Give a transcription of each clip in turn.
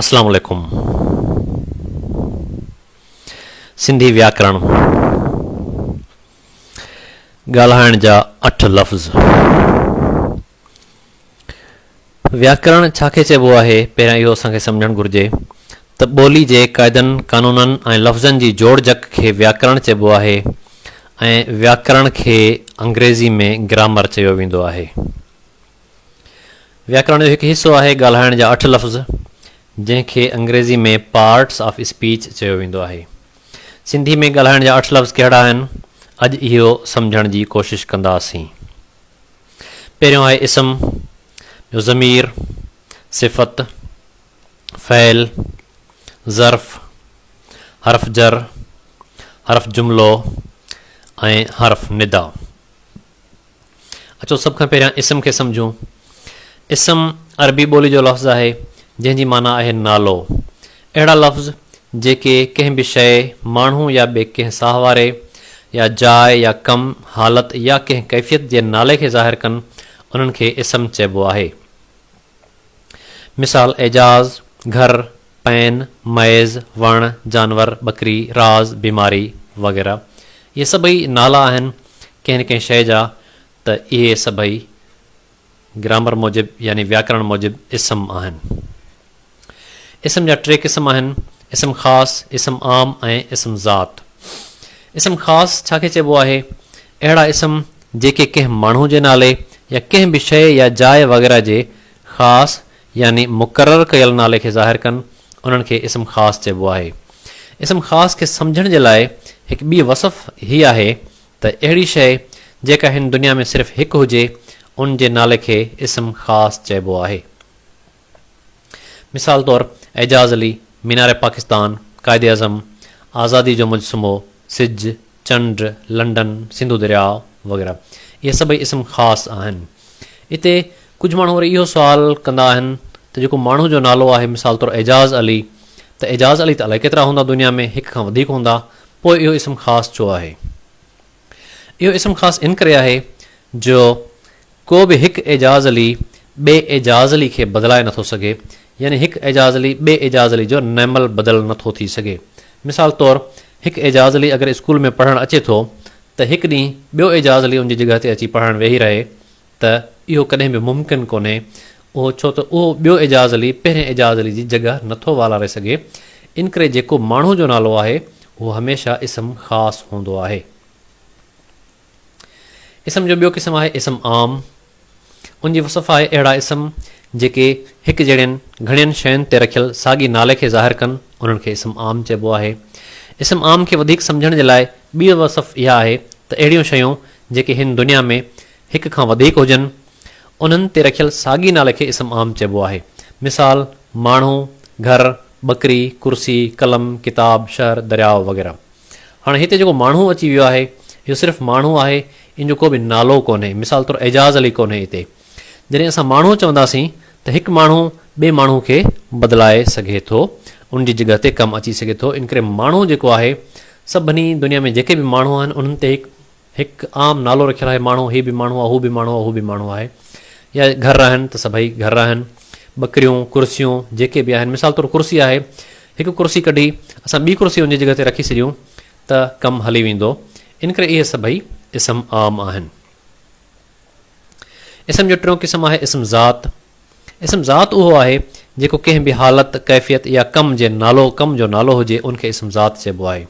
اسلام عليڪم سنڌي وياڪرڻ ڳالهائڻ جا اٺ لفظ وياڪرڻ ڇا کي چئبو آهي پهريان اهو اسان کي سمجهڻ گهرجي ته ٻولي جي قاعدن قانونن ۽ لفظن جي جوڙجڪ کي وياڪرڻ چئبو آهي ۽ وياڪرڻ کي انگريزي ۾ گرامر چيو ويندو آهي وياڪرڻ جو هڪ حصو آهي ڳالهائڻ جا اٺ لفظ، جنهن کي انگريزي ۾ پارٽس آف اسپيچ چيو ويندو آهي. سنڌي ۾ ڳالهائڻ جا اٺ لفظ ڪهڙا آهن، اڄ اهو سمجهڻ جي ڪوشش ڪنداسين. پهريون آهي اسم، ٻيو ضمير، صفت، فعل، ظرف، حرف جر، حرف جملو ۽ حرف ندا. اچو سڀ کان پهريان اسم کي سمجهون. اسم عربي ٻولي جو لفظ آهي جنهن جي معنيٰ آهي نالو. اهڙا لفظ جيڪي ڪنهن به شيء، ماڻهو يا ٻي ڪنهن ساهواري يا جاء يا ڪم، حالت يا ڪنهن ڪيفيت جي نالي کي ظاهر ڪن انهن کي اسم چئبو آهي. مثال، اعجاز، گهر، پين، مئيز، وڻ، جانور، ٻڪري، راز، بيماري وغيره اهي سڀئي نالا آهن ڪنهن نه ڪنهن شيء جا ته اهي سڀئي گرامر موجب يعني وياڪرڻ موجب اسم آهن. اسم جا ٽي قسم آهن، اسم خاص، اسم عام ۽ اسم ذات. اسم خاص ڇا کي چئبو آهي؟ اهڙا اسم جيڪي ڪنهن ماڻهو جي نالي يا ڪنهن به شيء يا جاء وغيره جي خاص يعني مقرر ڪيل نالي کي ظاهر ڪن، انهن کي اسم خاص چئبو آهي. اسم خاص کي سمجهڻ جي لاء هڪ ٻي وصف هي آهي ته اهڙي شيء جيڪا هن دنيا ۾ صرف هڪ هجي، ان جي نالي کي اسم خاص چئبو آهي. مثال طور اعجاز علي، مينار پاڪستان، قائد اعظم، آزادي جو مجسمو، سج، چنڊ، لنڊن، سنڌو درياء وغيره اهي سڀئي اسم خاص آهن. اتي ڪجهه ماڻهو وري اهو سوال ڪندا آهن ته جيڪو ماڻهو جو نالو آهي مثال طور اعجاز علي ته اعجاز علي ته الائي ڪيترا هوندا دنيا ۾ هڪ کان وڌيڪ هوندا پوء اهو اسم خاص ڇو آهي؟ اهو اسم خاص ان ڪري آهي جو ڪو به هڪ اعجاز علي ٻئي اعجاز علي کي بدلائي نٿو سگهي، يعني هڪ اعجاز علي ٻئي اعجاز علي جو نعمل بدل نٿو ٿي سگهي. مثال طور هڪ اعجاز علي اگر اسڪول ۾ پڙهڻ اچي ٿو ته هڪ ڏينهن ٻيو اعجاز علي ان جي جڳهه تي اچي پڙهڻ ويهي رهي ته اهو ڪڏهن به ممڪن ڪونهي اهو ڇو ته اهو ٻيو اعجاز علي پهرين اعجاز علي جي جڳهه نٿو والاري سگهي انڪري جيڪو ماڻهو جو نالو آهي اهو هميشه اسم خاص هوندو آهي. اسم جو ٻيو قسم آهي اسم عام. ان جي وصف آهي اهڙا اسم جيڪي هڪ جهڙين گهڻين شين تي رکيل ساڳي نالي کي ظاهر ڪن انهن کي اسم عام چئبو آهي. اسم عام کي وڌيڪ سمجهڻ جي لاء ٻيء وصف اها آهي ته اهڙيون شيون جيڪي هن دنيا ۾ هڪ کان وڌيڪ هجن انهن تي رکيل ساڳي نالي کي اسم عام چئبو آهي. مثال، ماڻهو، گهر، ٻڪري، ڪرسي، قلم، ڪتاب، شهر، درياء وغيره. هاڻي هتي جيڪو ماڻهو اچي ويو آهي، اهو صرف ماڻهو آهي، ان جو ڪو به نالو ڪونهي، مثال طور اعجاز علي ڪونهي اتي. جڏهن اسان ماڻهو چونداسين ته هڪ ماڻهو ٻئي ماڻهو کي بدلائي سگهي ٿو، ان جي جڳهه تي ڪم اچي سگهي ٿو، ان ڪري ماڻهو جيڪو آهي، سڀني دنيا ۾ جيڪي به ماڻهو آهن، انهن تي هڪ. هڪ عام نالو رکيل آهي ماڻهو هي به ماڻهو آهي هو به ماڻهو آهي هو به ماڻهو آهي يا گهر آهن ته سڀئي گهر آهن ٻڪريون ڪرسيون جيڪي به آهن مثال طور ڪرسي آهي هڪ ڪرسي ڪڍي اسان ٻي ڪرسي ان جي جڳهه تي رکي ڇڏيون ته ڪم هلي ويندو ان ڪري اهي سڀئي اسم عام آهن. اسم جو ٽيون قسم آهي اسم ذات اسم ذات اهو آهي، جيڪو ڪنهن به حالت، ڪيفيت يا ڪم جي نالو، ڪم جو نالو هجي، ان کي اسم ذات چئبو آهي.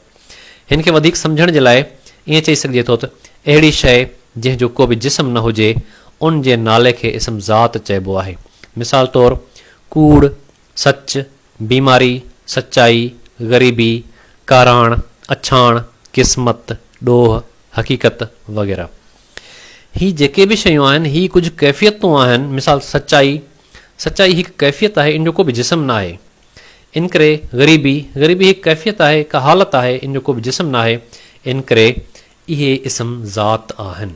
هن کي وڌيڪ سمجهڻ جي لاء ائين چئي سگهجي ٿو ته اهڙي شيء جنهن جو ڪو به جسم نه هجي، ان جي نالي کي اسم ذات چئبو آهي. مثال طور، ڪوڙ، سچ، بيماري، سچائي، غريبي، ڪاراڻ، اڇاڻ، قسمت، ڏوهه، حقيقت وغيره. هي جيڪي به شيون آهن، هي ڪجهه ڪيفيتون آهن، مثال سچائي، سچائي هڪ ڪيفيت آهي، ان جو ڪو به جسم ناهي. انڪري، غريبي، غريبي هڪ ڪيفيت آهي، هڪ حالت آهي، ان جو ڪو به جسم ناهي. انڪري، اهي اسم ذات آهن.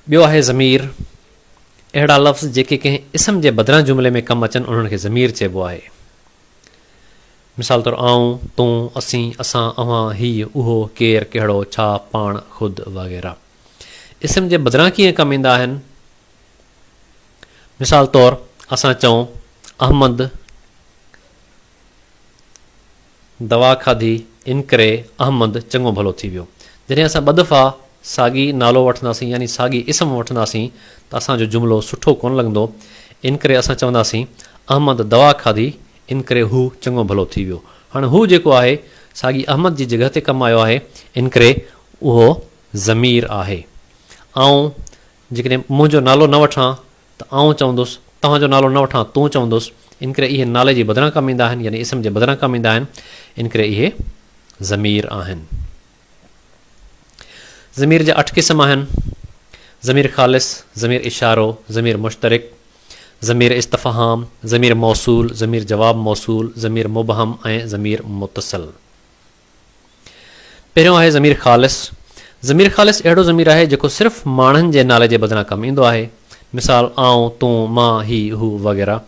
ٻيو آهي ضمير، اهڙا لفظ جيڪي ڪنهن اسم جي بدران جملي ۾ ڪم اچن، انهن کي ضمير چئبو آهي. مثال طور آئون، تون، اسين، اسان، اوهان، هيء، اهو، ڪير، ڪهڙو، ڇا، پاڻ، خود وغيره اسم جي بدران ڪيئن ڪم ايندا آهن؟ مثال طور اسان چئون، احمد دوا کاڌي انڪري احمد چڱو ڀلو ٿي ويو. جڏهن اسان ٻه دفعا ساڳي نالو وٺنداسين يعني ساڳي اسم وٺنداسين ته اسان جو جملو سٺو ڪونه لڳندو انڪري اسان چونداسين، احمد دوا کاڌي ان ڪري هو چڱو ڀلو ٿي ويو. هاڻي هو جيڪو آهي، ساڳي احمد جي جڳهه تي ڪم آيو آهي، ان ڪري اهو ضمير آهي. آئون جيڪڏهن منهنجو نالو نه وٺان ته آئون چوندس، توهان جو نالو نه وٺان تون چوندس، ان ڪري اهي نالي جي بدران ڪم ايندا آهن، يعني اسم جي بدران ڪم ايندا آهن، ان ڪري اهي ضمير آهن. ضمير جا اٺ قسم آهن، ضمير خالص، ضمير اشارو، ضمير مشترڪ، ضمير استفهام، ضمير موصول، ضمير جواب موصول، ضمير مبهم ۽ ضمير متصل. پهريون آهي ضمير خالص. ضمير خالص اهڙو ضمير آهي جيڪو صرف ماڻهن جي نالي جي بدران ڪم ايندو آهي. مثال، آئون، تون، مان، هي، هو وغيره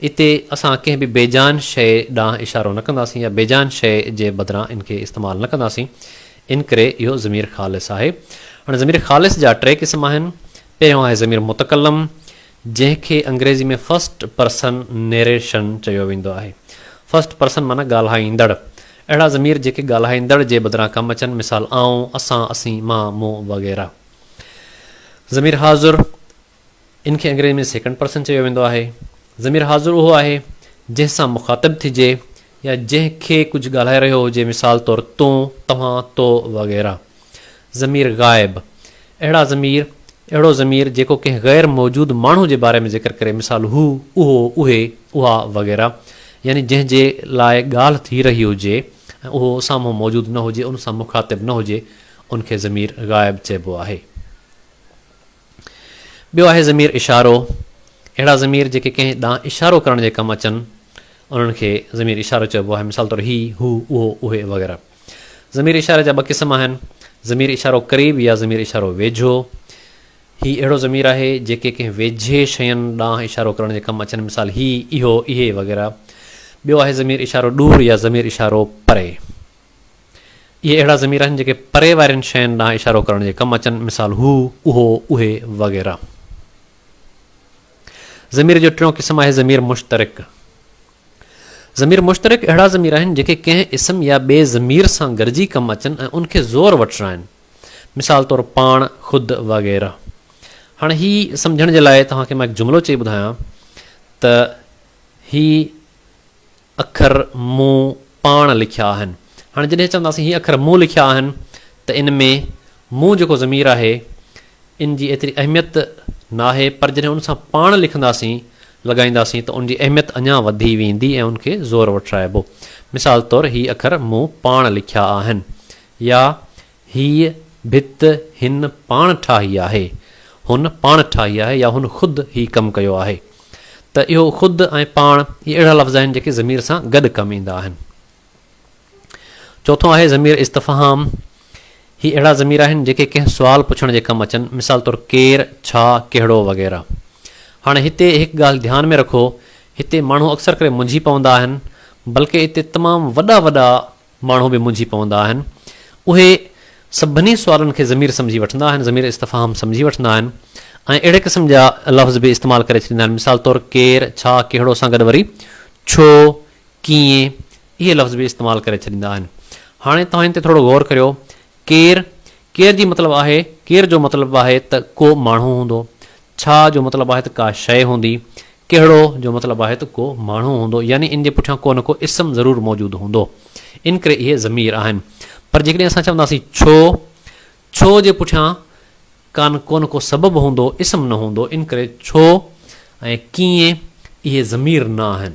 اتي اسان ڪنهن به بي جان شيء ڏانهن اشارو نه ڪنداسين يا بي جان شيء جي بدران ان کي استعمال نه ڪنداسين، انڪري اهو ضمير خالص آهي. هاڻي ضمير خالص جا ٽي قسم آهن. پهريون آهي ضمير متڪلم، جنهن کي انگريزي ۾ فرسٽ پرسن نيريشن چيو ويندو آهي. فرسٽ پرسن معنيٰ ڳالهائيندڙ. اهڙا ضمير جيڪي ڳالهائيندڙ جي بدران ڪم اچن، مثال، آئون، اسان، اسين، مان، مون وغيره. ضمير حاضر، ان کي انگريزي ۾ سيڪنڊ پرسن چيو ويندو آهي. ضمير حاضر اهو آهي، جنهن سان مخاطب ٿجي يا جنهن کي ڪجهه ڳالهائي رهيو هجي، مثال طور تون، توهان، تو وغيره. ضمير غائب، اهڙا ضمير، اهڙو ضمير جيڪو ڪنهن غير موجود ماڻهو جي باري ۾ ذڪر ڪري، مثال هو، اهو، اهي، اها وغيره، يعني جنهن جي لاء ڳالهه ٿي رهي هجي ۽ اهو سامهون موجود نه هجي، ان سان مخاطب نه هجي، ان کي ضمير غائب چئبو آهي. ٻيو آهي ضمير اشارو، اهڙا ضمير جيڪي ڪنهن ڏانهن اشارو ڪرڻ جي ڪم اچن، انهن کي ضمير اشارو چئبو آهي، مثال طور هي، هو، اهو، اهي وغيره. ضمير اشاري جا ٻه قسم آهن، ضمير اشارو قريب يا ضمير اشارو ويجهو. هي اهڙو ضمير آهي، جيڪي ڪنهن ويجهي شين ڏانهن اشارو ڪرڻ جي ڪم اچن، مثال هي، اهو، اهي وغيره. ٻيو آهي ضمير اشارو ڏور يا ضمير اشارو پري. اهي اهڙا ضمير آهن جيڪي پري وارين شين ڏانهن اشارو ڪرڻ جي ڪم اچن، مثال، هو، اهو، اهي وغيره. ضمير جو ٽيون قسم آهي ضمير مشترڪ. ضمير مشترڪ اهڙا ضمير آهن جيڪي ڪنهن اسم يا ٻئي ضمير سان گڏجي ڪم اچن ۽ ان کي زور وٺرائن، مثال طور، پاڻ، خود وغيره. هاڻي هي سمجهڻ جي لاء توهان کي مان هڪ جملو چئي ٻڌايان ته هي، اکر مون پاڻ لکيا آهن. هاڻي جڏهن چونداسين هي اکر مون لکيا آهن ته ان ۾ مون جيڪو ضمير آهي ان جي ايتري اهميت ناهي پر جڏهن ان سان پاڻ لکنداسين، لڳائينداسين ته ان جي اهميت اڃا وڌي ويندي ۽ ان کي زور وٺرائبو. مثال طور هي اکر مون پاڻ لکيا آهن يا هيء ڀت هن پاڻ ٺاهي آهي. هن پاڻ ٺاهي آهي يا هن خود هي ڪم ڪيو آهي. ته اهو خود ۽ پاڻ اهي اهڙا لفظ آهن جيڪي ضمير سان گڏ ڪم ايندا آهن. چوٿون آهي ضمير استفهام. هي اهڙا ضمير آهن جيڪي ڪنهن سوال پڇڻ جي ڪم اچن مثال طور ڪير، ڇا، ڪهڙو وغيره. هاڻي هتي هڪ ڳالهه ڌيان ۾ رکو هتي ماڻهو اڪثر ڪري منجهي پوندا آهن بلڪه اتي تمام وڏا وڏا ماڻهو به منجهي پوندا آهن. اهي سڀني سوالن کي ضمير سمجهي وٺندا آهن، ضمير استفهام سمجهي وٺندا آهن ۽ اهڙي قسم جا لفظ به استعمال ڪري ڇڏيندا آهن. مثال طور ڪير، ڇا، ڪهڙو سان گڏ وري ڇو، ڪيئن اهي لفظ به استعمال ڪري ڇڏيندا آهن. هاڻي توهان ان تي ٿورو غور ڪريو. ڪير، ڪير جي مطلب آهي، ڪير جو مطلب آهي ته ڪو ماڻهو هوندو. ڇا جو مطلب آهي ته ڪا شيء هوندي. ڪهڙو جو مطلب آهي ته ڪو ماڻهو هوندو يعني ان جي پٺيان ڪو نه ڪو اسم ضرور موجود هوندو. ان ڪري اهي ضمير آهن. پر جيڪڏهن اسان چونداسين ڇو؟ ڇو جي پٺيان ڪان ڪو نه ڪو سبب هوندو، اسم نه هوندو. ان ڪري ڇو ۽ ڪيئن اهي ضمير نه آهن.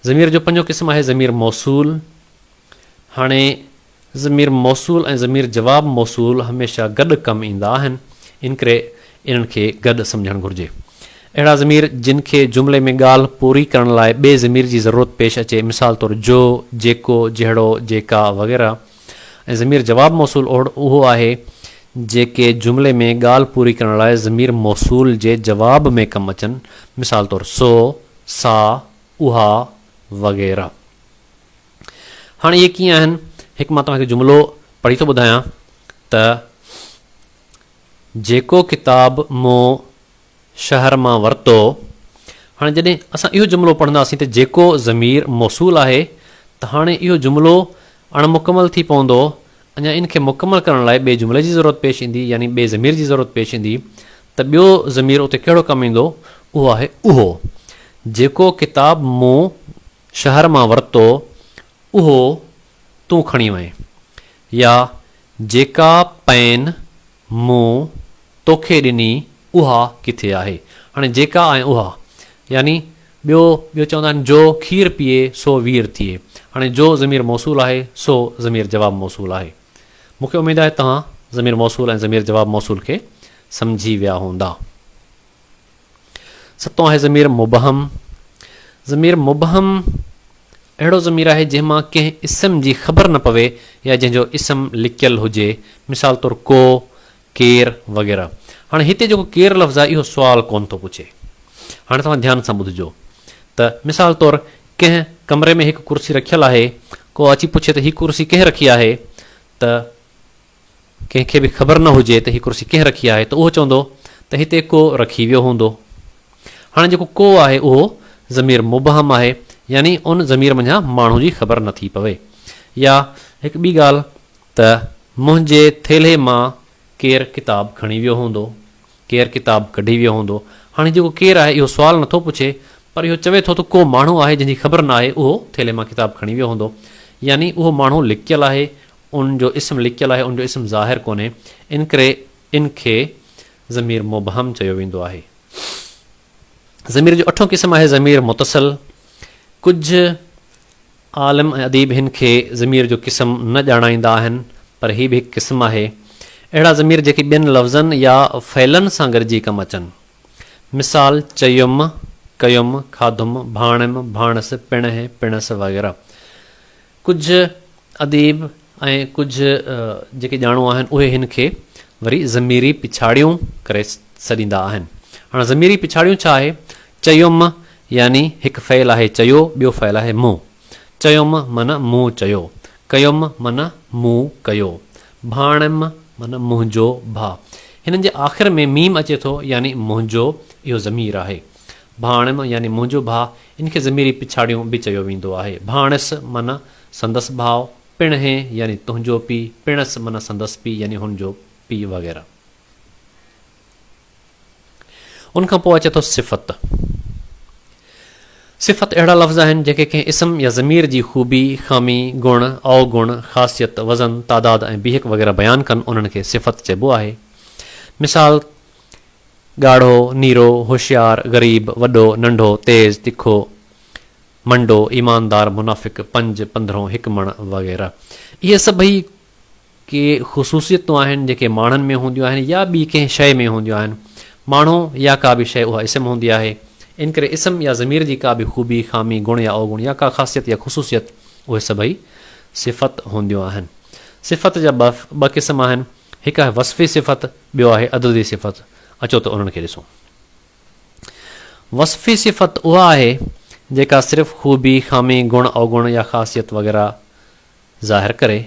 ضمير جو پنجون قسم آهي ضمير موصول. هاڻي ضمير موصول ۽ ضمير جواب موصول هميشه گڏ ڪم ايندا آهن، ان ڪري انهن کي گڏ سمجهڻ گهرجي. اهڙا ضمير جن کي جملي ۾ ڳالهه پوري ڪرڻ لاء ٻئي ضمير جي ضرورت پيش اچي، مثال طور جو، جيڪو، جهڙو، جيڪا وغيره ۽ ضمير جواب موصول اهو آهي جيڪي جملي ۾ ڳالهه پوري ڪرڻ لاء ضمير موصول جي جواب ۾ ڪم اچن، مثال طور سو، سا، اها وغيره. هاڻي اهي ڪيئن آهن؟ هڪ مان توهان کي جملو پڙهي ٿو ٻڌايان ته جيڪو ڪتاب مون شهر مان ورتو هاڻي جڏهن اسان اهو جملو پڙهنداسين ته جيڪو ضمير موصول آهي ته هاڻي اهو جملو اڻ مڪمل ٿي پوندو اڃا ان کي مڪمل ڪرڻ لاء ٻئي جملي جي ضرورت پيش ايندي يعني ٻئي ضمير جي ضرورت پيش ايندي ته ٻيو ضمير اتي ڪهڙو ڪم ايندو اهو آهي اهو جيڪو ڪتاب مون شهر مان ورتو اهو تون کڻي وئين. يا جيڪا پئن مون توکي ڏني اها ڪٿي آهي. هاڻي جيڪا ۽ اها يعني ٻيو ٻيو چوندا آهن جو کير پيئي سو وير ٿئي. هاڻي جو ضمير موصول آهي سو ضمير جواب موصول آهي. مون کي اميد آهي توهان ضمير موصول ۽ ضمير جواب موصول کي سمجهي ويا هوندا. ستون آهي ضمير مبهم. ضمير مبهم اهڙو ضمير آهي جنهن مان ڪنهن اسم جي خبر نه پوي يا جنهن جو اسم لڪيل هجي مثال طور ڪو، ڪير وغيره. هاڻي هتي جيڪو ڪير لفظ آهي اهو سوال ڪونه ٿو پڇي. هاڻي توهان ڌيان سان ٻڌجو ته مثال طور ڪنهن ڪمري ۾ هڪ ڪرسي رکيل آهي ڪو اچي پڇي ته هي ڪرسي ڪنهن رکي آهي ته ڪنهن کي به خبر نه هجي ته هي ڪرسي ڪنهن رکي آهي ته اهو چوندو ته هتي ڪو رکي ويو هوندو. هاڻي جيڪو ڪو آهي اهو ضمير مبهم آهي يعني ان ضمير منجهان ماڻهو جي خبر نه ٿي پوي. يا هڪ ٻي ڳالهه ته منهنجي ٿيلهي مان ڪير ڪتاب کڻي ويو هوندو، ڪير ڪتاب ڪڍي ويو هوندو. هاڻي هي جيڪو ڪير آهي اهو سوال نه ٿو پڇي پر اهو چوي ٿو ته ڪو ماڻهو آهي جنهن جي خبر نه آهي اهو ٿيلهي مان ڪتاب کڻي ويو هوندو يعني اهو ماڻهو لڪيل آهي ان جو اسم لڪيل آهي، ان جو اسم ظاهر ڪونهي، انڪري ان کي ضمير مبهم چيو ويندو آهي. ضمير جو اٺون قسم آهي ضمير متصل. ڪجهه عالم ۽ اديب هن کي ضمير جو قسم نه ڄاڻائيندا آهن، پر هي به هڪ قسم آهي. اهڙا ضمير جيڪي ٻين لفظن يا فعلن سان گڏجي ڪم اچن. مثال، چيم، ڪيم، کاڌم، ڀاڻيم، ڀاڻس، پڻهه، پڻس وغيره. ڪجهه اديب ۽ ڪجهه جيڪي ڄاڻو آهن اهي هن کي وري ضميري پڇاڙيون ڪري سڏيندا آهن. هاڻ ضميري پڇاڙيون ڇا آهي؟ چيم يعني هڪ فعل آهي چيو ٻيو فعل آهي مون. چيم معنيٰ مون چيو. ڪيم معنيٰ مون ڪيو. ڀاڻم معنيٰ منهنجو ڀاء. هنن جي آخر ۾ ميم اچي ٿو يعني منهنجو اهو ضمير آهي. ڀاڻم يعني منهنجو ڀاء، ان کي ضميري پڇاڙيون به چيو ويندو آهي. ڀاڻس معنيٰ سندس ڀاء، پڻهي يعني تنهنجو پيء، پڻس معنيٰ سندس پيء يعني هن جو پيء وغيره. ان کان پوء اچي ٿو صفت. صفت اهڙا لفظ آهن جن کي ڪنهن اسم يا ضمير جي خوبي، خامي، گڻ، اوگڻ، خاصيت، وزن، تعداد ۽ بيهڪ وغيره بيان ڪن انهن کي صفت چئبو آهي. مثال. ڳاڙهو، نيرو، هوشيار، غريب، وڏو، ننڍو، تيز، تکو، منڊو، ايماندار، منافق، پنج، پندرهون، هڪ مڻ وغيره. اهي سڀئي ڪي خصوصيتون آهن جيڪي ماڻهن ۾ هونديون آهن يا ٻي ڪنهن شيء ۾ هونديون آهن. ماڻهو يا ڪا به شيء اها اسم هوندي آهي. ان ڪري اسم يا ضمير جي ڪا به خوبي، خامي، گڻ يا اوگڻ يا ڪا خاصيت يا خصوصيت اهي سڀئي صفت هونديون آهن. صفت جا ٻه قسم آهن. هڪ آهي وصفي صفت، ٻيو آهي عددي صفت، اچو ته انهن کي ڏسون. وصفي صفت اها آهي جيڪا صرف خوبي، خامي، گڻ، اوگڻ يا خاصيت وغيره ظاهر ڪري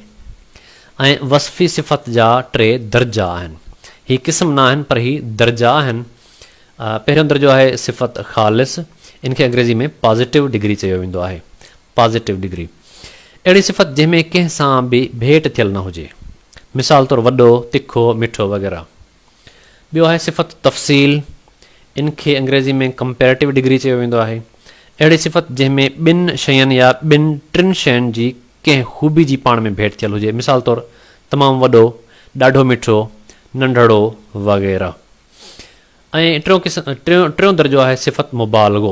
۽ وصفي صفت جا ٽي درجا آهن. هي قسم نه آهن پر هي درجا آهن. پهريون درجو آهي صفت خالص، ان کي انگريزي ۾ پازيٽو ڊگري چيو ويندو آهي. Positive Degree، اهڙي صفت جنهن ۾ ڪنهن سان به ڀيٽ ٿيل نه هجي. مثال طور وڏو، تکو، مٺو وغيره. ٻيو آهي صفت تفصيل، ان کي انگريزي ۾ Comparative Degree چيو ويندو آهي. اهڙي صفت جنهن ۾ ٻن شين يا ٻن ٽن شين جي ڪنهن خوبي جي پاڻ ۾ ڀيٽ ٿيل هجي. مثال طور تمام وڏو، ڏاڍو مٺو، ننڍڙو وغيره. ۽ ٽيون قسم ٽيون درجو آهي صفت مبالغو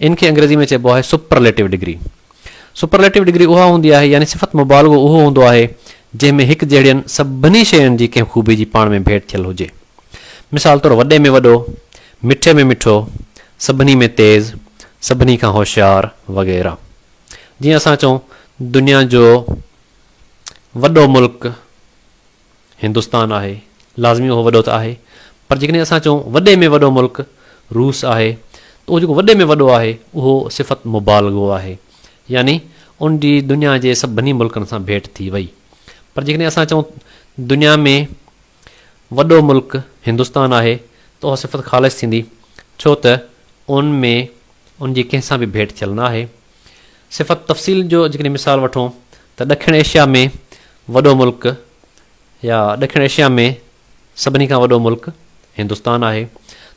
ان کي انگريزي ۾ چئبو آهي سپرليٽو ڊگري سپرليٽو ڊگري اها هوندي آهي يعني صفت مبالغو اهو هوندو آهي جنهن ۾ هڪ جهڙين سڀني شين جي ڪنهن خوبي جي پاڻ ۾ ڀيٽ ٿيل هجي مثال طور وڏي ۾ وڏو مٺي ۾ مٺو سڀني ۾ تيز سڀني کان هوشيار وغيره جيئن اسان چئون دنيا جو وڏو ملڪ هندستان آهي، لازمي اهو وڏو ته آهي، پر جيڪڏهن اسان چئون وڏي ۾ وڏو ملڪ روس آهي ته اهو جيڪو وڏي ۾ وڏو آهي اهو صفت مبالغو آهي، يعني ان جي دنيا جي سڀني ملڪن سان ڀيٽ ٿي وئي. پر جيڪڏهن اسان چئون دنيا ۾ وڏو ملڪ هندستان آهي ته اها صفت خالص ٿيندي، ڇو ته ان ۾ ان جي ڪنهن سان به ڀيٽ ٿيل نه آهي. صفت تفصيل جو جيڪڏهن مثال وٺون ته ڏکڻ ايشيا ۾ وڏو ملڪ يا ڏکڻ ايشيا ۾ سڀني کان وڏو ملڪ هندستان آهي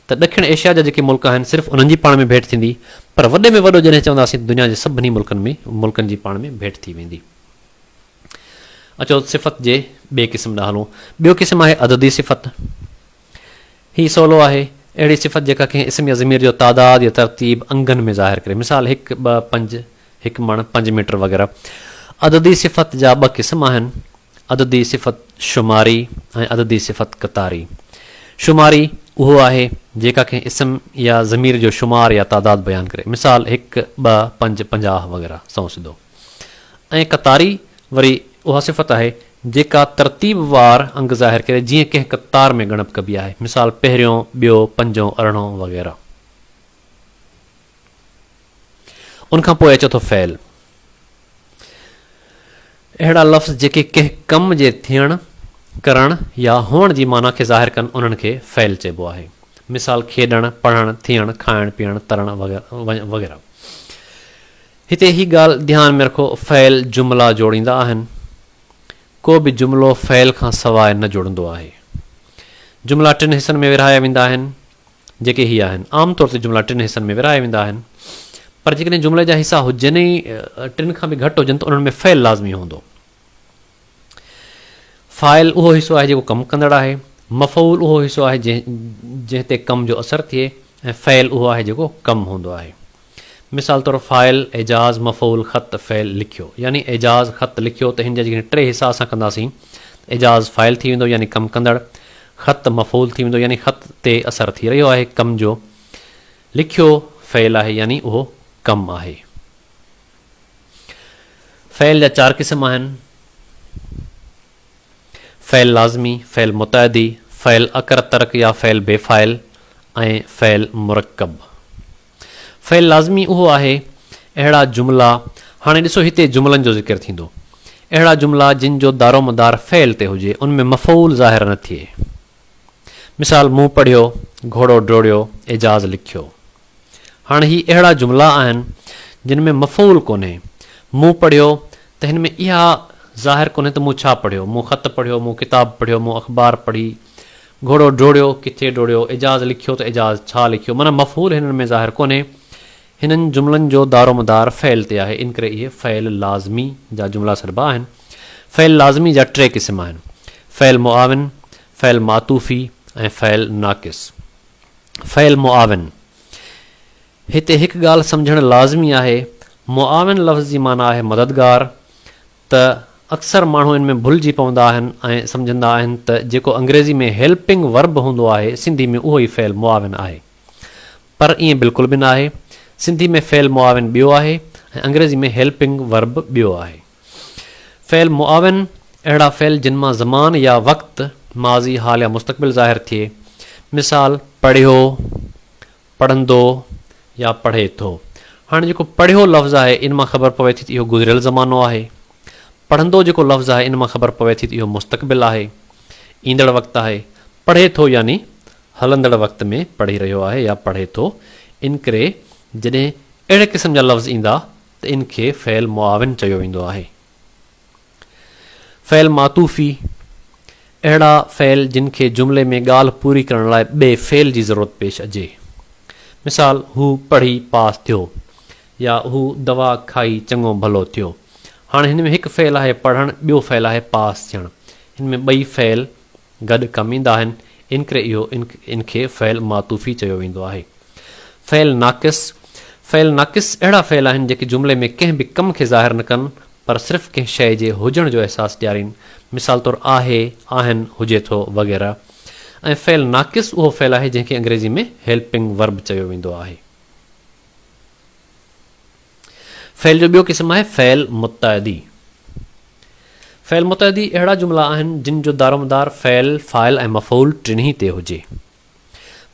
ته ڏکڻ ايشيا جا جيڪي ملڪ آهن صرف انهن جي پاڻ ۾ ڀيٽ ٿيندي پر وڏي ۾ وڏو جڏهن چونداسين ته دنيا جي سڀني ملڪن ۾ ملڪن جي پاڻ ۾ ڀيٽ ٿي ويندي. اچو صفت جي ٻئي قسم ڏانهن هلون. ٻيو قسم آهي عددي صفت. هي سولو آهي، اهڙي صفت جيڪا ڪنهن اسم يا ضمير جو تعداد يا ترتيب انگن ۾ ظاهر ڪري، مثال، هڪ، ٻه، پنج، هڪ مڻ، پنج ميٽر وغيره. عددي صفت جا ٻه قسم آهن، عددي صفت شماري ۽ عددي صفت قطاري. شماري اهو آهي، جيڪا ڪنهن اسم يا ضمير جو شمار يا تعداد بيان ڪري، مثال، هڪ، ٻه، پنج، پنجاهه وغيره. سنئون سڌو. ۽ قطاري وري اها صفت آهي جيڪا ترتيب وار انگ ظاهر ڪري جيئن ڪنهن قطار ۾ ڳڻپ ڪبي آهي مثال پهريون، ٻيو، پنجون، ارڙهون وغيره. ان کان پوء اچي ٿو فعل. اهڙا لفظ جيڪي ڪنهن ڪم جي ٿيڻ، ڪرڻ يا هئڻ جي معنيٰ کي ظاهر ڪن انهن کي فعل چئبو آهي مثال کيڏڻ، پڙهڻ، ٿيڻ، کائڻ، پيئڻ، ترڻ وغيره. هتي هي ڳالهه ڌيان ۾ رکو فعل جملا جوڙيندا آهن. ڪو به جملو فعل کان سواء نه جڙندو آهي. جملا ٽن حصن ۾ ورهايا ويندا آهن جيڪي هي آهن. عام طور تي جملا ٽن حصن ۾ ورهايا ويندا آهن پر جيڪڏهن جملي جا حصا هجن ۽ ٽن کان به گهٽ هجن ته انهن ۾ فعل لازمي هوندو. فاعل اهو حصو آهي جيڪو ڪم ڪندڙ آهي. مفعول اهو حصو آهي جنهن تي ڪم جو اثر ٿئي ۽ فعل اهو آهي جيڪو ڪم هوندو آهي. مثال طور فاعل، اعجاز، مفعول، خط، فعل، لکيو. يعني اعجاز خط لکيو ته هن جا جيڪڏهن ٽي حصا اسان ڪنداسين ته اعجاز فاعل ٿي ويندو يعني ڪم ڪندڙ، خط مفعول ٿي ويندو يعني خط تي اثر ٿي رهيو آهي ڪم جو، لکيو فعل آهي يعني اهو ڪم آهي. فعل جا چار قسم آهن، فعل لازمي، فعل متعدي، فعل اڪر ترڪ يا فعل بي فاعل ۽ فعل مرڪب. فعل لازمي اهو آهي، اهڙا جملا، هاڻي ڏسو هتي جملن جو ذڪر ٿيندو، اهڙا جملا جن جو دارومدار فعل تي هجي، ان ۾ مفعول ظاهر نه ٿئي. مثال، مون پڙهيو، گهوڙو ڊوڙيو، اعجاز لکيو. هاڻ هي اهڙا جملا آهن جن ۾ مفعول ڪونهي. مون پڙهيو ته هن ۾ اها ظاهر ڪونهي ته مون ڇا پڙهيو، مون خط پڙهيو، مون ڪتاب پڙهيو، مون اخبار پڙهي، گهوڙو ڊوڙيو، ڪٿي ڊوڙيو، اعجاز لکيو ته اعجاز ڇا لکيو معنيٰ مفعول هنن ۾ ظاهر ڪونهي. هنن جملن جو دارومدار فعل تي آهي انڪري اهي فعل لازمي جا جملا سڏبا آهن. فعل لازمي جا ٽي قسم آهن، فعل معاون، فعل معطوفي ۽ فعل ناقص. فعل معاون، هتي هڪ ڳالهه سمجهڻ لازمي آهي، معاون لفظ جي معنيٰ آهي مددگار، ته اڪثر ماڻهو ان ۾ ڀلجي پوندا آهن ۽ سمجهندا آهن ته جيڪو انگريزي ۾ Helping Verb هوندو آهي، سنڌي ۾ اهو ئي فعل معاون آهي. پر ائين بلڪل به ناهي، سنڌي ۾ فعل معاون ٻيو آهي ۽ انگريزي ۾ Helping Verb ٻيو آهي. فعل معاون، اهڙا فعل جن مان زمان يا وقت، ماضي، حال يا مستقبل ظاهر ٿئي. مثال، پڙهيو، پڙهندو يا پڙهي ٿو. هاڻي جيڪو پڙهيو لفظ آهي ان مان خبر پوي ٿي ته اهو گذريل زمانو آهي. پڙهندو جيڪو لفظ آهي ان مان خبر پوي ٿي ته اهو مستقبل آهي، ايندڙ وقت آهي. پڙهي ٿو يعني هلندڙ وقت ۾ پڙهي رهيو آهي يا پڙهي ٿو. انڪري جڏهن اهڙي قسم جا لفظ ايندا ته ان کي فعل معاون چيو ويندو آهي. فعل معطوفي، اهڙا فعل جن کي جملي ۾ ڳالهه پوري ڪرڻ لاء ٻئي فعل جي ضرورت پيش اچي. مثال، هو پڙهي پاس ٿيو يا هو دوا کائي چڱو ڀلو ٿيو. هاڻي هن ۾ هڪ فعل آهي پڙهڻ، ٻيو فعل آهي پاس ٿيڻ. هن ۾ ٻئي فعل گڏ ڪم ايندا آهن، انڪري اهو ان کي فعل معطوفي چيو ويندو آهي. فعل ناقص، فعل ناقص اهڙا فعل آهن جيڪي جملي ۾ ڪنهن به ڪم کي ظاهر نه ڪن پر صرف ڪنهن شيء جي هجڻ جو احساس ڏيارين، مثال طور آهي، آهن، هجي ٿو وغيره ۽ فعل ناقص اهو فعل آهي جنهن کي انگريزي ۾ Helping Verb چيو ويندو آهي. فعل جو ٻيو قسم آهي فعل متعدي. فعل متعدي اهڙا جملا آهن جن جو دارومدار فعل، فاعل ۽ مفعول ٽنهي تي هجي.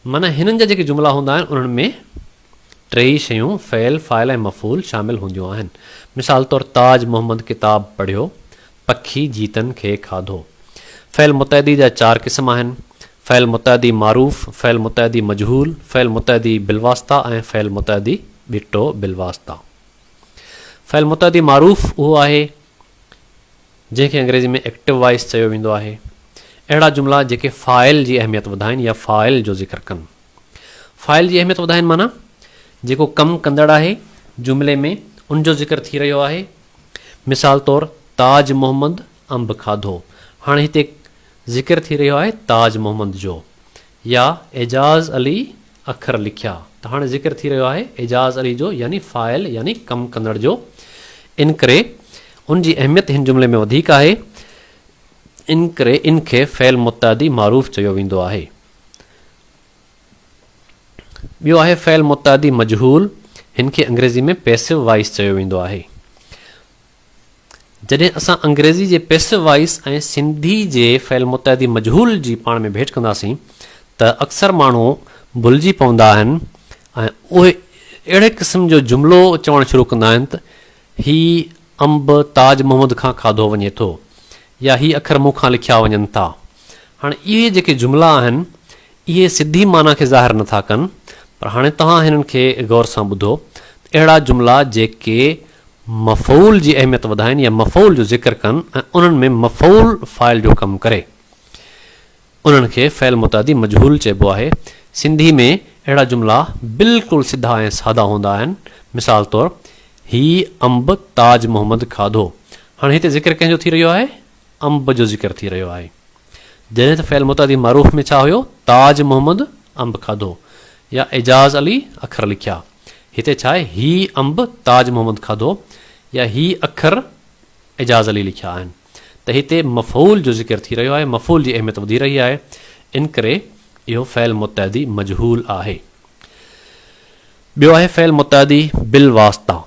معنيٰ هنن جا جيڪي جملا هوندا آهن انهن ۾ ٽيئي شيون فعل، فاعل ۽ مفعول شامل هونديون آهن. مثال طور تاج محمد ڪتاب پڙهيو، پکي جيتن کي کاڌو. فعل متعدي جا چار قسم آهن، فعل متعدي معروف، فعل متعدي مجهول، فعل متعدي بالواسطه ۽ فعل متعدي ٻٽو بالواسطه. فعل متعدي معروف اهو آهي جنهن کي انگريزي ۾ ايڪٽو وائيس چيو ويندو آهي. اهڙا جملا جيڪي فاعل جي اهميت وڌائين يا فاعل جو ذڪر ڪن. فاعل جي اهميت وڌائين معنيٰ جيڪو ڪم ڪندڙ آهي جملي ۾ ان جو ذڪر ٿي رهيو آهي. مثال طور تاج محمد انب کاڌو. هاڻي هتي ذڪر ٿي رهيو آهي تاج محمد جو يا اعجاز علي اکر لکيا ته هاڻي ذڪر ٿي رهيو آهي اعجاز علي جو يعني فاعل يعني ڪم ڪندڙ جو انڪري ان جي اهميت هن جملي ۾ وڌيڪ آهي انڪري ان کي فعل متعدي معروف چيو ويندو آهي ٻيو آهي فعل متعدي مجهول هن کي انگريزي ۾ پيسو وائس چيو ويندو آهي جڏهن اسان انگريزي جي پيسو وائيس ۽ سنڌي جي فعل متعدي مجهول جي پاڻ ۾ ڀيٽ ڪنداسين ته اڪثر ماڻهو ڀلجي پوندا آهن ۽ اهي اهڙي قسم جو جملو چوڻ شروع ڪندا آهن ته هي انب تاج محمد کان کاڌو وڃي ٿو يا هي اکر مون کان لکيا وڃن ٿا. هاڻ اهي جيڪي جملا آهن اهي سڌي معنيٰ کي ظاهر نٿا ڪن، پر هاڻي توهان هنن کي غور سان ٻڌو ته اهڙا جملا جيڪي مفعول جي اهميت وڌائين يا مفعول جو ذڪر ڪن ۽ انهن ۾ مفعول فاعل جو ڪم ڪري، انهن کي فعل متعدي مجهول چئبو آهي. سنڌي ۾ اهڙا جملا بلڪل سڌا ۽ سادا هوندا آهن. مثال طور، هي انب تاج محمد کاڌو. هاڻي هتي ذڪر ڪنهن جو ٿي رهيو آهي؟ انب جو ذڪر ٿي رهيو آهي، جڏهن ته فعل متعدي معروف ۾ ڇا هيو، تاج محمد انب کاڌو يا اعجاز علي اکر لکيا. هتي ڇا آهي، هي انب تاج محمد کاڌو يا هي اکر اعجاز علي لکيا آهن ته هتي مفعول جو ذڪر ٿي رهيو آهي، مفعول جي اهميت وڌي رهي آهي، انڪري اهو فعل متعدي مجهول آهي. ٻيو آهي فعل متعدي بالواسطه.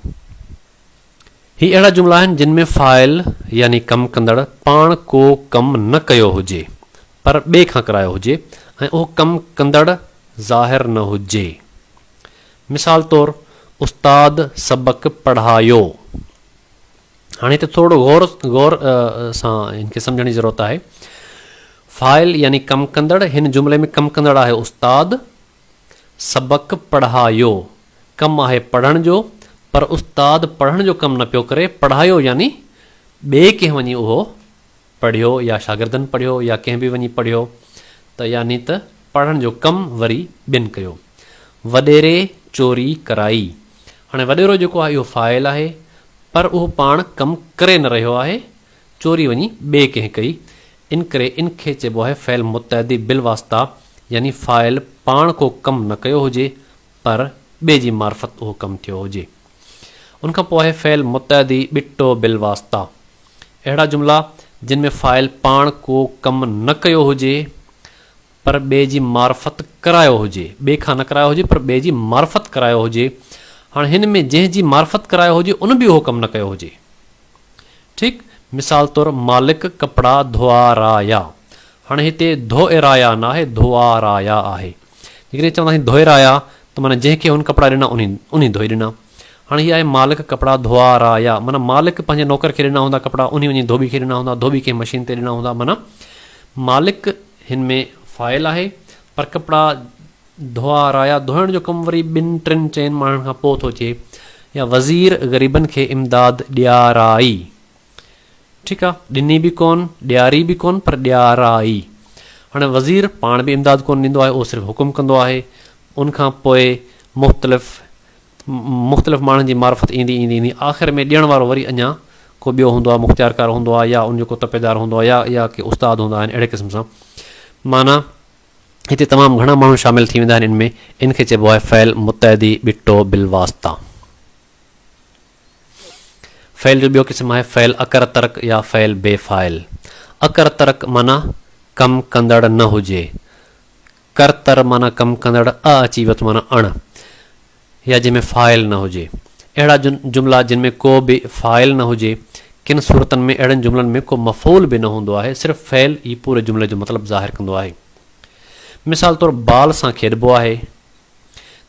هي اهڙا جملا آهن جن ۾ فاعل يعني ڪم ڪندڙ پاڻ ڪو ڪم نه ڪيو هجي پر ٻئي کان ڪرايو هجي ۽ اهو ڪم ڪندڙ ظاهر نه هجي. مثال طور استاد سبق پڙهايو. هاڻي هتي ٿورڙو غور غور سان هن کي سمجهڻ جي ضرورت آهي. فاعل يعني ڪم ڪندڙ هن جملي ۾ ڪم ڪندڙ آهي استاد سبق پڙهايو. ڪم آهي پڙهڻ جو، پر استاد پڙهڻ جو ڪم نه پيو ڪري، پڙهايو يعني ٻئي ڪنهن وڃي اهو پڙهيو يا شاگردن پڙهيو يا ڪنهن به وڃي پڙهيو ته يعني ته پڙهڻ جو ڪم وري ٻين ڪيو. وڏيري چوري ڪرائي. هاڻي وڏيرو جيڪو آهي اهو فاعل آهي پر اهو پاڻ ڪم ڪري نه رهيو آهي چوري وڃي ٻئي ڪنهن ڪئي، ان ڪري ان کي چئبو آهي فعل متعدي بالواسطه يعني فاعل پاڻ ڪو ڪم نه ڪيو هجي پر ٻئي جي معرفت اهو ڪم ٿيو هجي. ان کان پوء آهي فعل متعدي ٻٽو بالواسطه. اهڙا جملا جن ۾ فاعل پاڻ ڪو ڪم نه ڪيو هجي پر ٻئي جي معرفت ڪرايو هجي، ٻئي کان نه ڪرايو هجي پر ٻئي جي معرفت ڪرايو هجي، هاڻ هن ۾ جنهن جي معرفت ڪرايو هجي ان به اهو ڪم نه ڪيو هجي ٺيڪ مثال طور مالڪ ڪپڙا ڌوئارايا هاڻ هتي ڌوئرايا نه آهي ڌوئارايا آهي جيڪڏهن چونداسين ڌوئرايا ته معنيٰ جنهن کي هن ڪپڙا ڏنا انهي انهي ڌوئي ڏنا هاڻ هي آهي مالڪ ڪپڙا ڌوئارايا معنيٰ مالڪ پنهنجي نوڪر کي ڏنا هوندا ڪپڙا انهي وڃي ڌوٻي کي ڏنا هوندا ڌوٻي ڪنهن مشين تي ڏنا هوندا معنيٰ مالڪ هن ۾ فائل آهي پر ڪپڙا ڌوئا رايا ڌوئڻ جو ڪم وري ٻن ٽن چئن ماڻهن کان پوء ٿو ٿئي يا وزير غريبن کي امداد ڏيارائي ٺيڪ آ ڏني به ڪون ڏياري به ڪون پر ڏيارائي هاڻي وزير پاڻ به امداد ڪون ڏيندو آهي اهو صرف حڪم ڪندو آهي ان کان پوء مختلف مختلف ماڻهن جي معرفت ايندي ايندي ايندي آخر ۾ ڏيڻ وارو وري اڃا ڪو ٻيو هوندو آهي مختيارڪار هوندو آهي يا ان جو ڪو تپيدار هوندو آهي يا يا ڪي استاد هوندا آهن اهڙي قسم سان معنيٰ هتي تمام گهڻا ماڻهو شامل ٿي ويندا آهن ان ۾ ان کي چئبو آهي فعل متعدي ٻٽو بالواسطه فعل جو ٻيو قسم آهي فعل اڪر ترڪ يا فعل بي فاعل اڪر ترڪ معنيٰ ڪم ڪندڙ نه هجي ڪر تر معنيٰ ڪم ڪندڙ اء اچي وت معنيٰ اڻ يا جنهن ۾ فاعل نه هجي. اهڙا جملا جن ۾ ڪو به فاعل نه هجي. ڪن صورتن ۾ اهڙن جملن ۾ ڪو مفعول به نه هوندو آهي، صرف فعل ئي پوري جملي جو مطلب ظاهر ڪندو آهي. مثال طور بال سان کيڏبو آهي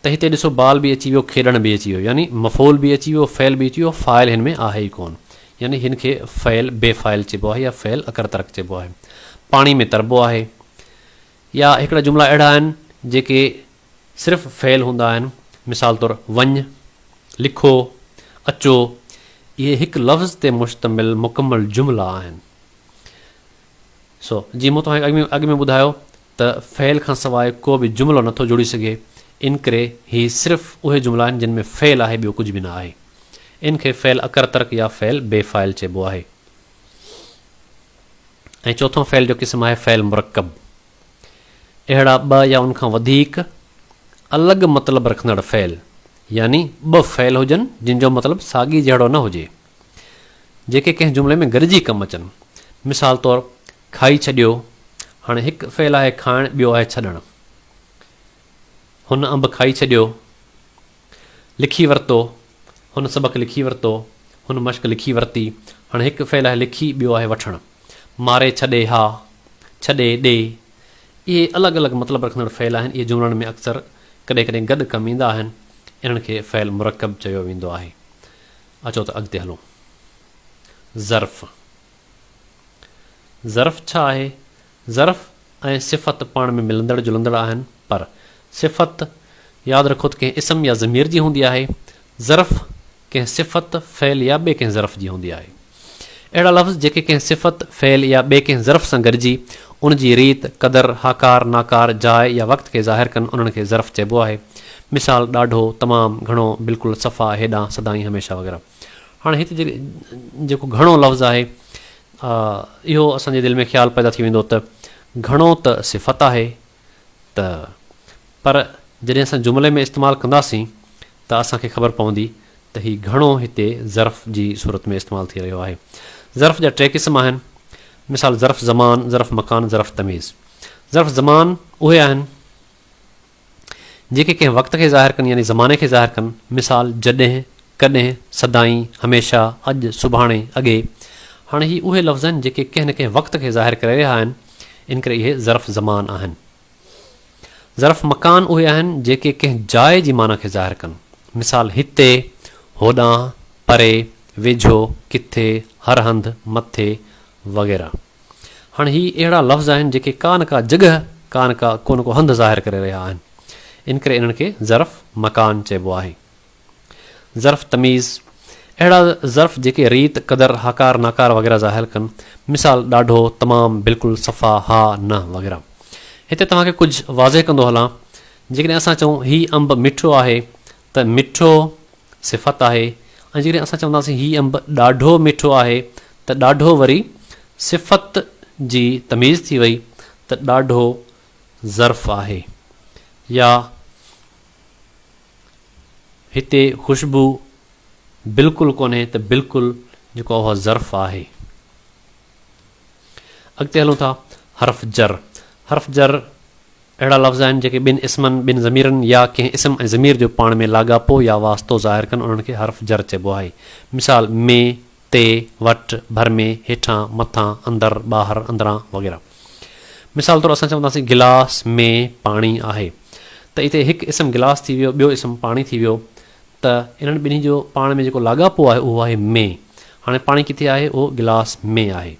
ته هتي ڏسو بال به اچي ويو کيڏڻ به اچي ويو يعني مفعول به اچي ويو فعل به اچي ويو فاعل هن ۾ آهي ئي ڪون يعني هن کي فعل بي فاعل چئبو آهي يا فعل اڪر ترڪ چئبو آهي. پاڻي ۾ تربو آهي يا هڪڙا جملا اهڙا آهن جيڪي صرف فعل هوندا آهن، مثال طور وڃ، لکو، اچو، اهي هڪ لفظ تي مشتمل مڪمل جملا آهن. سو جيئن مون توهان کي اڳ ۾ ٻڌايو ته فعل کان سواء ڪو به جملو نه ٿو جڙي سگهي، ان ڪري هي صرف اهي جملا آهن جن ۾ فعل آهي ٻيو ڪجهه به نه آهي. ان کي فعل اڪر ترڪ يا فعل بي فاعل چئبو آهي. ۽ چوٿون فعل جو قسم آهي فعل مرڪب. اهڙا ٻه يا ان کان وڌيڪ الڳ مطلب رکندڙ فعل يعني ٻه فعل هجن جن جو مطلب ساڳي جهڙو نه هجي جيڪي ڪنهن جملي ۾ گڏجي ڪم اچن مثال طور کائي ڇڏيو هاڻي هڪ فعل آهي کائڻ ٻيو آهي ڇڏڻ هن انب کائي ڇڏيو. لکي ورتو، هن سبق لکي ورتو، هن مشق لکي ورتي، هاڻي هڪ فعل آهي لکي، ٻيو آهي وٺڻ. ماري ڇڏي ها، ڇڏي ڏي، اهي الڳ الڳ مطلب رکندڙ فعل آهن، اهي جملن ۾ اڪثر ڪڏهن ڪڏهن گڏ ڪم ايندا آهن، انهن کي فعل مرڪب چيو ويندو آهي. اچو ته اڳتي هلون. ظرف، ظرف ڇا آهي؟ ظرف ۽ صفت پاڻ ۾ ملندڙ جلندڙ آهن، پر صفت ياد رکو ته ڪنهن اسم يا ضمير جي هوندي آهي، ظرف ڪنهن صفت، فعل يا ٻئي ڪنهن ظرف جي هوندي آهي. اهڙا لفظ جيڪي ڪنهن صفت، فعل يا ٻئي ڪنهن ظرف سان گڏجي ان جي ريت، قدر، هاڪار، ناڪار، جاء يا وقت کي ظاهر ڪن انهن کي ظرف چئبو آهي. مثال، ڏاڍو، تمام، گهڻو، بلڪل، صفا، هيڏانهن، سدائين، هميشه وغيره. هاڻي هت جيڪو گهڻو لفظ آهي آء اهو اسان جي دل ۾ خيال پيدا ٿي ويندو ته گهڻو ته صفت آهي ته پر جڏهن اسان جملي ۾ استعمال ڪنداسين ته اسان کي خبر پوندي ته هي گهڻو هتي ظرف جي صورت ۾ استعمال ٿي رهيو آهي. ظرف جا ٽي قسم آهن مثال ظرف زمان، ظرف مڪان، ظرف تميز. ظرف زمان اهي آهن. جيڪي ڪنهن وقت کي ظاهر ڪن يعني زماني کي ظاهر ڪن، مثال، جڏهن، ڪڏهن، سدائين، هميشه، اڄ، سڀاڻي، اڳي. هاڻي هي اهي لفظ آهن جيڪي ڪنهن نه ڪنهن وقت کي ظاهر ڪري رهيا آهن، ان ڪري اهي ظرف زمان آهن. ظرف مڪان اهي آهن جيڪي ڪنهن جاء جي معنيٰ کي ظاهر ڪن، مثال، هتي، هوڏانهن، پري، ويجهو، ڪٿي، هر هنڌ، مٿي، وغيره. هاڻ هي اهڙا لفظ آهن جيڪي ڪا نه ڪا جڳهه، ڪا نه ڪا ڪو نه ڪو هنڌ ظاهر ڪري رهيا آهن. ان ڪري انهن کي ظرف مڪان چئبو آهي. ظرف تميز، اهڙا ظرف جيڪي ريت، قدر، هاڪار، ناڪار وغيره ظاهر ڪن. مثال، ڏاڍو، تمام، بلڪل، صفا، ها، نه وغيره. هتي توهان کي ڪجهه واضح ڪندو هلان. جيڪڏهن اسان چئون هي انب مٺو آهي ته مٺو صفت آهي ۽ جيڪڏهن اسان چونداسين هي انب ڏاڍو مٺو آهي ته ڏاڍو وري صفت جي تميز ٿي وئي ته ڏاڍو ظرف آهي يا هتي خوشبو بلڪل ڪونهي ته بلڪل جيڪو اها ظرف آهي. اڳتي هلون ٿا حرف جر حرف جر اهڙا لفظ آهن جيڪي ٻن اسمن، ٻن ضميرن يا ڪنهن اسم ۽ ضمير جو پاڻ ۾ لاڳاپو يا واسطو ظاهر ڪن انهن کي حرف جر چئبو آهي. مثال، ۾، تي، وٽ، ڀر ۾، هيٺان، مٿان، اندر، ٻاهر، اندران وغيره. مثال طور اسان چونداسين گلاس ۾ پاڻي آهي ته اتي هڪ اسم گلاس ٿي ويو ٻيو اسم پاڻي ٿي ويو ته انهن ٻنهي جو پاڻ ۾ جيڪو لاڳاپو آهي اهو آهي ۾ هاڻي پاڻي ڪٿي آهي اهو گلاس ۾ آهي.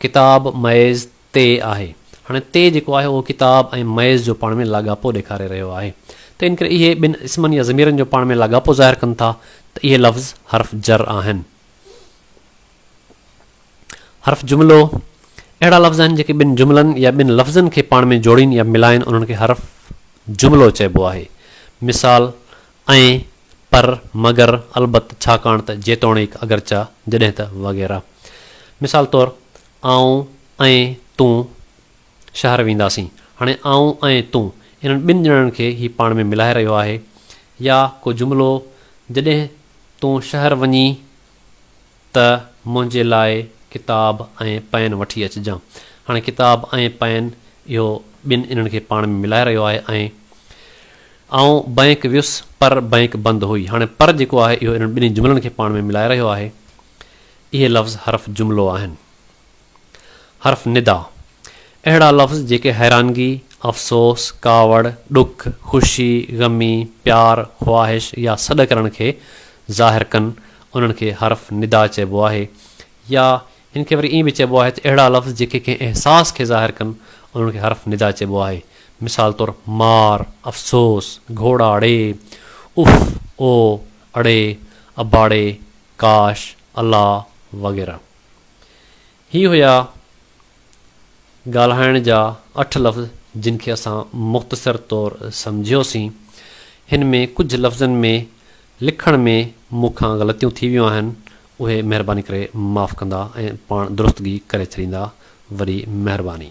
ڪتاب ميز تي آهي. هاڻي تي جيڪو آهي اهو ڪتاب ۽ ميز جو پاڻ ۾ لاڳاپو ڏيکاري رهيو آهي. تنهن ڪري اهي ٻن اسمن يا ضميرن جو پاڻ ۾ لاڳاپو ظاهر ڪن ٿا ته اهي لفظ حرف جر آهن. حرف جملو، اهڙا لفظ آهن جيڪي ٻن جملن يا ٻن لفظن کي پاڻ ۾ جوڙين يا ملائين انهن کي حرف جملو چئبو آهي. مثال، ۽، پر، مگر، البت، ڇاڪاڻ ته، جيتوڻيڪ، اگرچه، جڏهن ته، وغيره. مثال طور، آئون ۽ تون شهر وينداسين. هاڻي آئون ۽ تون انهن ٻن ڄڻن کي هي پاڻ ۾ ملائي رهيو آهي يا ڪو جملو جڏهن تون شهر وڃين ته منهنجي لاء ڪتاب ۽ پين وٺي اچجان. هاڻي ڪتاب ۽ پين اهو ٻن انهن کي پاڻ ۾ ملائي رهيو آهي ۽. آئون بئنڪ ويس پر بئنڪ بند هئي. هاڻي پر جيڪو آهي اهو انهن ٻنهي جملن کي پاڻ ۾ ملائي رهيو آهي. اهي لفظ حرف جملو آهن. حرف ندا، اهڙا لفظ جيڪي حيرانگي، افسوس، ڪاوڙ، ڏک، خوشي، غمي، پيار، خواهش يا سڏ ڪرڻ کي ظاهر ڪن، انهن کي حرف ندا چئبو آهي يا هن کي وري ائين به چئبو آهي ته اهڙا لفظ جيڪي ڪنهن احساس کي ظاهر ڪن، انهن کي حرف ندا چئبو آهي. مثال طور، مار، افسوس، گهوڙا ڙي، اف، او، اڙي، اباڙي، ڪاش، الله وغيره. هي هيا ڳالهائڻ جا اٺ لفظ جن کي اسان مختصر طور سمجهيوسين. هن ۾ ڪجهه لفظن ۾ لکڻ ۾ مون کان غلطيون ٿي ويون آهن اهي مهرباني ڪري معاف ڪندا ۽ پاڻ درستگي ڪري ڇڏيندا وري مهرباني.